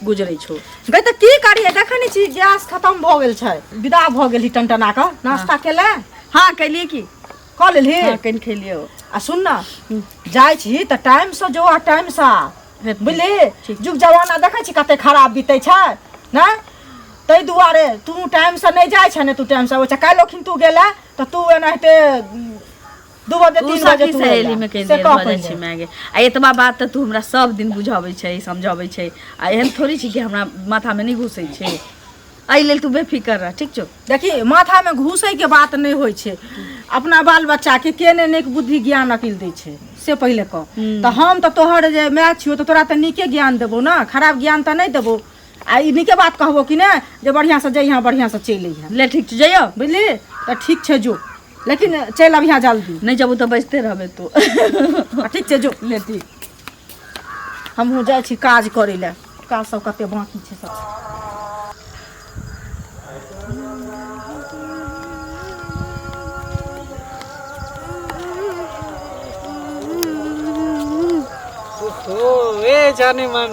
गुजरै छौ गै तऽ की करियै देखै नहि छी गैस खतम भऽ गेल छै विदा भऽ गेली टनटना कऽ नाश्ता केले हाँ कैलिए की कऽ लेलही हाँ कनि खेलिए आ सुन ना जाइ छी तऽ टाइम से जो आ टाइम से आ हेतै। बुझली जुग जमाना देखै छी कते खराब बीतै छै ने ताहि दुआरे तू टाइम से नहि जाइ छै ने तू टाइम से अबै छै काल्हि ओखिन तू गेले तऽ तू एनाहिते दू बजे तू तीन बजे सखी तू अइला। सहेली में कहि से देर कह भऽ जाइ पहिले। छै माय गे आ एतबा बात तऽ तू हमरा सब दिन बुझाबै छै समझाबै छै आ एहन थोड़ी छै कि हमरा माथामे नहि घुसै छै एहि लेल तू बेफिकर रह ठीक छौ देखी माथामे घुसैके बात नहि होइ छै अपना बाल बच्चाके के ने नीक बुद्धि ज्ञान अकिल दै छै से पहिले कह हूँ। तऽ हम तऽ तोहर जे माय छियौ तऽ तोरा तऽ नीके ज्ञान देबौ ने खराब ज्ञान तऽ नहि देबौ आ ई नीके बात कहबो कि ने जे बढ़िआँसँ जइहाँ बढ़िआँसँ चलि अइहाँ ले ठीक छौ जइयो बुझली तऽ ठीक छै जो लेकिन चलि आब यहाँ जल्दी नहि जेबू तऽ बजते रहबै तू ठीक छै जो ले ठीक हमहूँ जाइ छी काज करै लए काज सब कते बाँकी छै सब ओ ए जाने मन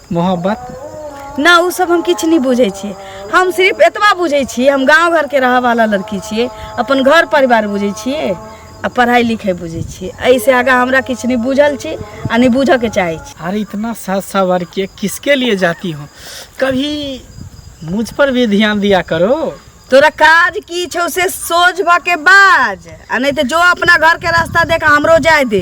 मोहब्बत ना उ सब हम किछु नहि बुझै छियै हम सिर्फ एतबा बुझै छियै हम गाँव घरके रहऽवाला लड़की छियै अपन घर परिवार बुझै छियै आ पढ़ाइ लिखाइ बुझै छियै एहिसँ आगाँ हमरा किछु नहि बुझल छी आ नहि बुझऽके चाहै छी अरे इतना सज सवर के किसके लिए जाती हो कभी मुझ पर भी ध्यान दिया करो तोरा काज की छौ से सोझ भऽ के बाज आ नहि तऽ जो अपना घरके रास्ता देख हमरो जाय दे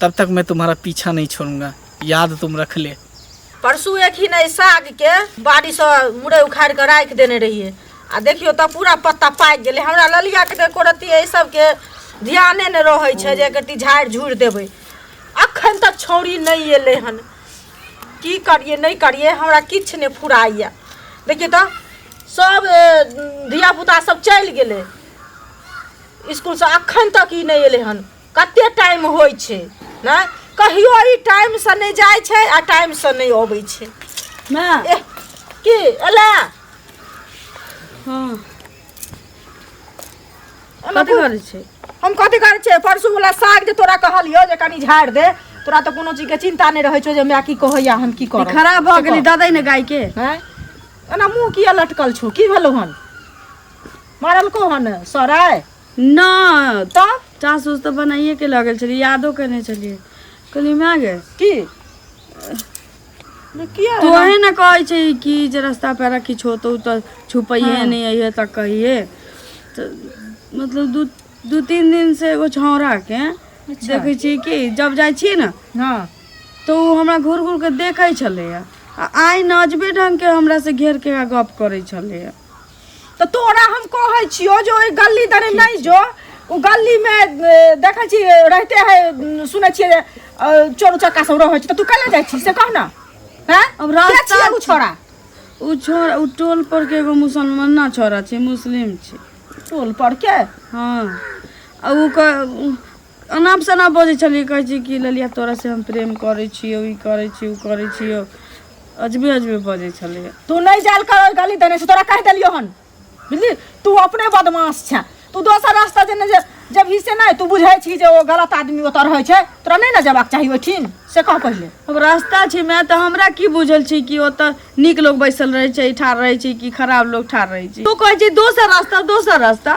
तब तक मैं तुम्हारा पीछा नहीं छोड़ूंगा याद तुम रख ले परसू एक ही नहीं साग के बाड़ी से मुड़े उखाड़ के राख देने रहिए आ देखियो तब पूरा पत्ता पाकि गेलै हमरा ललिया के एको रत्ती एहि सबके ध्याने नहि रहै छै जे एक रत्ती झाड़ि झूड़ि देबै अखन तक छौरी नहि एलै हन की करिए नहि करिए हमरा किछु नहि फुराइए देखिए तऽ सब धियापुता सब चलि गेलै इसकुलसँ अखन तक ई नहि एलै हन कते टाइम होइ छै ने कहियो ई टाइम से नहि जाइ छै आ टाइम से नहि अबै छै ना एह, की एला हाँ एला कथी करे छै हम कथी करै छियै परसू वाला साग जे तोरा कहलियो जे कनी झाड़ दे तोरा तऽ कोनो चीज के चिंता नहि रहै छौ जे हमरा की कहैया हम की ई करब खराब भऽ गेलै ददै ने गाय के हैं एना मुंह किया लटकल छौ की भेलौ हन मारलको हन सराय नहि तऽ चास उस तऽ बनाइए के लगल छलियै यादो केने छलियै कहलियै माय गे की ने किया तो है ना कहै छै कि जे रास्ता पेरा किछु होतौ तऽ छुपैहे हाँ। नहि अइहे तऽ कहिए तऽ मतलब दू दू तीन दिन से एगो छौड़ा के अच्छा। देखै छी कि जब जाइ छी ने हाँ तऽ ओ हमरा घूर घूर के देखै छलैया आ आइ नजबे ढंग के हमरा से घेर के गप करै छलैया तऽ तोरा हम कहै छियो जे ओहि गली दने नहि जो ओ गली मे देखै छी रहते है सुनै छियै जे, अ, चोर उचक्का सब रहै छै तऽ तू कैले जाइ छी से कह ने हैं अब के रास्ता छियै उ छोरा उ छोरा उ टोल पर के एगो मुसलमान ना छोरा छै मुस्लिम छै टोल पर के हाँ आ उ क- उ- अनाप सनाप बजै छलियै कहै छी कि ललिया तोरा से हम प्रेम करै छियौ ई करै छी ओ करै छियौ अजबे अजबे बजै छलै तू नहीं जाल कर गली देने से तोरा कह देलियो हन बुझली तू अपने बदमाश छे तू दोसर रास्ता जेने जे जब ही से नहीं तू बुझे छी जे ओ गलत आदमी ओतऽ रहै छै तोरा नहीं ने जेबाक चाही ओठिन से कह पहिले अब रास्ता छै मैं तऽ हमरा की बुझल छी कि ओतऽ नीक लोग बैसल रहै छै ठाढ़ रहै छै कि खराब लोग ठाढ़ रहै छै तू कहै छी दोसर रास्ता दोसर रास्ता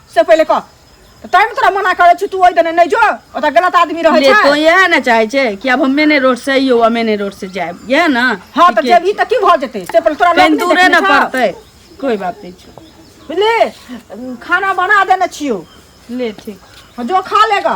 से पहिले कह तऽ तैमे तोरा मना करै छी तू ओहि दने नहि जो ओतऽ गलत आदमी रहै ले तो छै यह ना चाहे छे कि अब हम मेने रोड से यो मेने रोड से जाए यह ना हँ तऽ ठीके जब ई तऽ की भऽ जेतै से पहिले तोरा कहीं लोक नहि दूरे देखने ना छौ। पड़ते कोई बात नहीं छे। बुझली खाना बना देने छियौ ले ठीक जो खा लेगा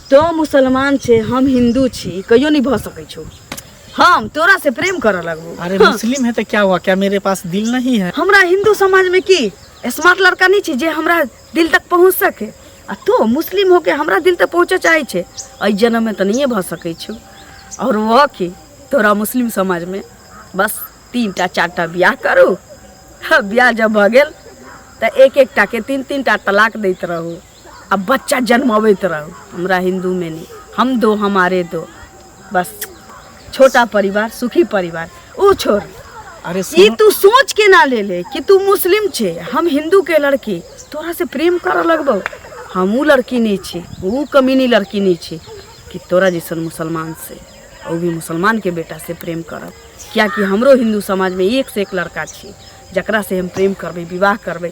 तो मुसलमान छे हम हिंदू छी ई कहियो नहीं भ सकै छौ हम तोरा से प्रेम करऽ लगबू अरे मुस्लिम है तो क्या हुआ क्या मेरे पास दिल नहीं है हमरा हिंदू समाज में की स्मार्ट लड़का नहीं छी जे हमरा दिल तक पहुंच सके आ तो मुस्लिम होके हमरा दिल तक पहुंचे चाहे छे एहि जन्म में तो नहीं भ सकै छौ और वह की तोरा मुस्लिम समाज में बस तीन टा चार टा ब्याह करू ह, ब्याह जब भ गेल तऽ एक एक टा के तीन तीन टा तलाक दैत रहू आ बच्चा जन्मबैत रहू हमरा हिन्दूमे नहि हम दो हमारे दो बस छोटा परिवार सुखी परिवार ओ छोड़ अरे ई तू सोच के ना ले ले कि तू मुस्लिम छे हम हिंदू के लड़की तोरा से प्रेम कर लगबो हम ऊ लड़की नहीं छे ऊ कमीनी लड़की नहीं छे कि तोरा जैसन मुसलमान से और भी मुसलमान के बेटा से प्रेम करब किया कि हमरो हिंदू समाज में एक से एक लड़का छे जकरा से हम प्रेम करबे विवाह करबे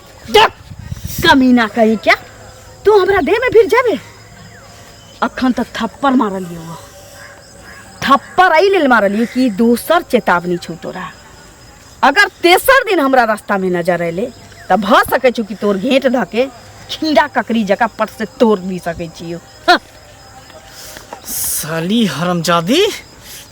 देख कमीना कहीं क्या तू हमरा देह में फिर जाबे अखन तक थप्पड़ मारलिए वो थप्पड़ एहि लेल मारलिए कि दोसर चेतावनी छौ तोरा अगर तेसर दिन हमरा रास्ता में नजर अयले तऽ भऽ सकै छौ कि तोर घेंट धऽ के खीरा ककड़ी जकाँ पट से तोड़ भी सकै छियौ हँ, साली हरमजादी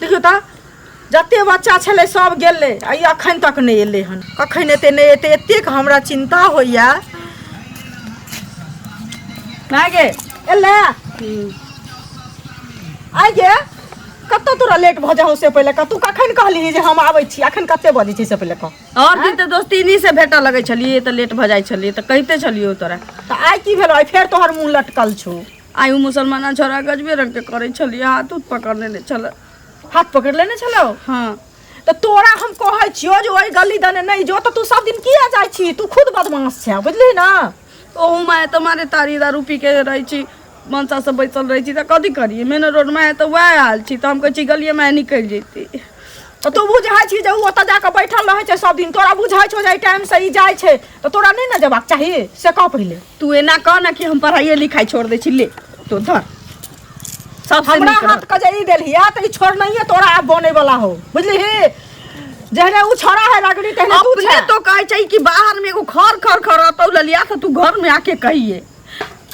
देखियौ तऽ जते बच्चा छलै सब गेलै आ ई अखन तक नहि एलै हन कखन एतै नहि एतै एतेक हमरा चिन्ता होइया माय गे एलै आइ गे कतऽ तोरा लेट भऽ जाउ से पहिले कतू कखन कहली जे हम आबै छी अखन कते बजै छी से पहिले कह और दिन तऽ दोस्ती इन्हीं से भेटऽ लगै छलियै तऽ लेट भऽ जाइ छलियै तऽ कहिते छलियौ तोरा तऽ आइ की भेलो आइ फेर तोहर मुंह लटकल छौ आइ ओ मुसलमाना छोरा गजबे रंगके करै छलियै हाथ उत पकड़ लेने छलै हाथ पकड़ लेने छलौ हँ तऽ तोरा हम कहै छियौ जे ओहि गली दने नहि जो तऽ तू सब दिन किया जाइ छी तू खुद बदमाश छै बुझली ना ओहू माय तऽ मारे तारी दारू पी के रहै छी मनसा सब बैसल रहै छी तऽ कथी करियै मेन रोड माय तऽ वएह हाल छी तऽ हम कहै छी गलिये माय निकलि जैती तऽ तू बुझै छी जे ओ ओतऽ जाकऽ बैठल रहै छै सब दिन तोरा बुझै छौ जे एहि टाइम से ई जाइ छै तऽ तोरा नहि ने जेबाक चाही से कह पहिले तू एना कह ना कि हम पढ़ाइए लिखाई छोड़ दै छी ले तो धर सब हमरा हाथ के जे ई देलियै तऽ ई छोड़नाइए तोरा आब बने वाला हो बुझलिही जहने उ छोड़ा है लगड़ी तहने तू अपने छै तो कहे छै कि बाहर में एगो खर खर खर रहतौ ललिया से तू घर में आके कहिए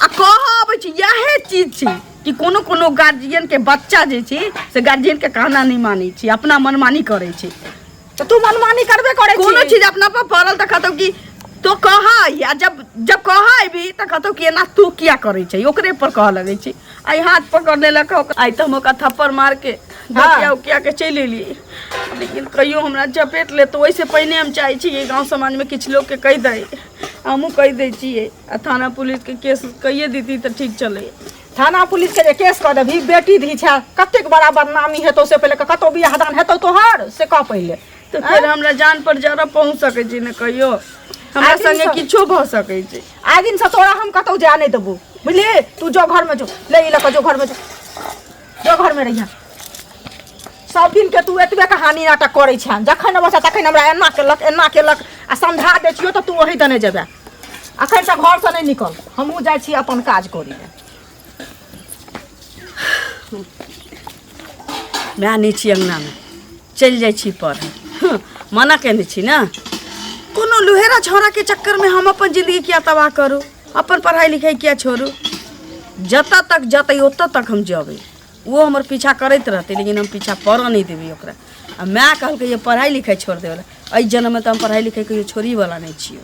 आ कह अबै छी इएह चीज छी कि कोनो कोनो गार्जियन के बच्चा जे छी से गार्जियन के कहना नहीं मानी छी अपना मनमानी करे छी तो तू मनमानी करबे करे कोनो चीज अपना पर पड़ल तऽ कहतौ कि तो कह आ जब जब कह अबी तऽ कहतौ कि एना तू किया करे छै ओकरे पर कह लगे छी आई हाथ पकड़ लेलक आई तऽ हम ओकरा थप्पड़ मार के धकिया उकिया के चलि एलियै लेकिन कहियो हमरा चपेट ले तो ओहिसँ पहिने हम चाहै छी कि गाँव समाजमे किछु लोकके कहि दै हमहूँ कहि दै छियै आ थाना पुलिसके केस कहिए देती तऽ ठीक छलै थाना पुलिसके जे केस कऽ देबही बेटी धी छै कतेक बड़ा बदनामी हेतौ से पहिले कतौ बियाह दान हेतौ तोहर से कह पहिले तऽ फेर हमरा जान पर जरा पहुँच सकै छी ने कहियो हमरा आदमी संगे सब- किछो भऽ सकै छै आइ दिनसँ तोरा हम कतौ जाय नहि देबौ बुझलिही तू जो घरमे जो ले ई लऽ कऽ जो घरमे जो जो घर में रहिया सब दिन के तू एतबे कहानी नाटक करे छे जखन अबै छे तखन हमरा एना केलक एना केलक आ समझा दै छियो तऽ तू ओही दने जेबे अखन से घर से नहीं निकल हमहूँ जाइ छी अपन काज करी ले वएह नहि छी अङ्गनामे चलि जाइ छी पर मना केने छी ने कोनो लुहेरा छौड़ाके चक्करमे हम अपन जिन्दगी किया तबाह करू अपन पढ़ाई लिखाई किया छोड़ू जतऽ तक जतै ओतऽ तक हम जेबै वो हमर पीछा करैत रहतै लेकिन हम पीछा पड़ऽ नहि देबै ओकरा आ माय कहलकै जे पढ़ाई लिखाई छोड़ देवला एहि जन्ममे तऽ हम पढ़ाई लिखाई कहियो छोड़ी वाला नहि छियै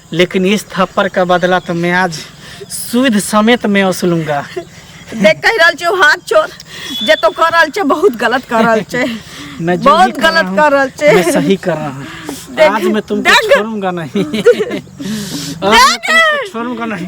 लेकिन इस थप्पड़ का बदला तो मैं आज सुध समेत मैं वसूलूंगा देख कह रहल छै ओ हाथ छोड़ जे तो कर रहल छै बहुत गलत कर रहल छै मैं जो बहुत भी कर रहा गलत हूँ, कर रहल छै मैं सही कर रहा हूँ देख- आज मैं तुमको देख। छोड़ूंगा नहीं आज मैं तुमको छोड़ूंगा नहीं